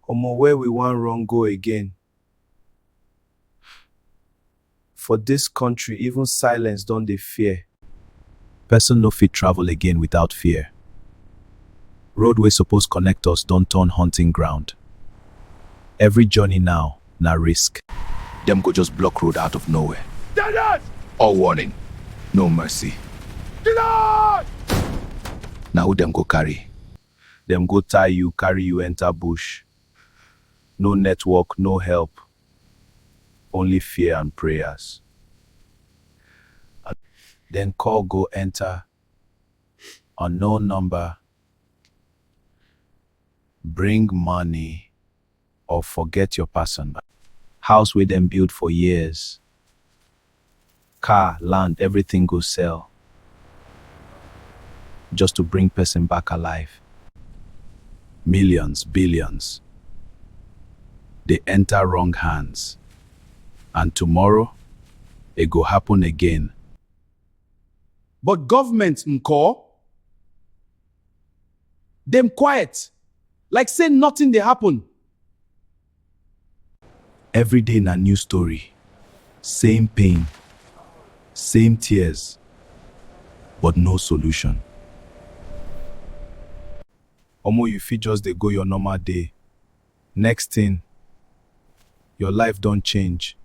Omo where we wan run go again? For this country even silence don dey fear. Person no fit travel again without fear. Road wey suppose connect us don turn hunting ground. Every journey now na risk. Dem go just block road out of nowhere. Deadhead! All warning, no mercy. Deadhead! Na who dem go carry? Dem go tie you, carry you enter bush. No network, no help, only fear and prayers. Then call go enter unknown number, bring money. or forget your person. House wey dem build for years, car, land, everything go sell just to bring person back alive. Millions, billions dey enter wrong hands and tomorrow e go happen again. But government nko? dem quiet like say nothing dey happen. Everyday na new story, same pain, same tears, but no solution. Omo you fit just dey go your normal day, next thing your life don change.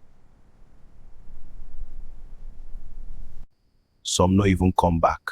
Some no even come back.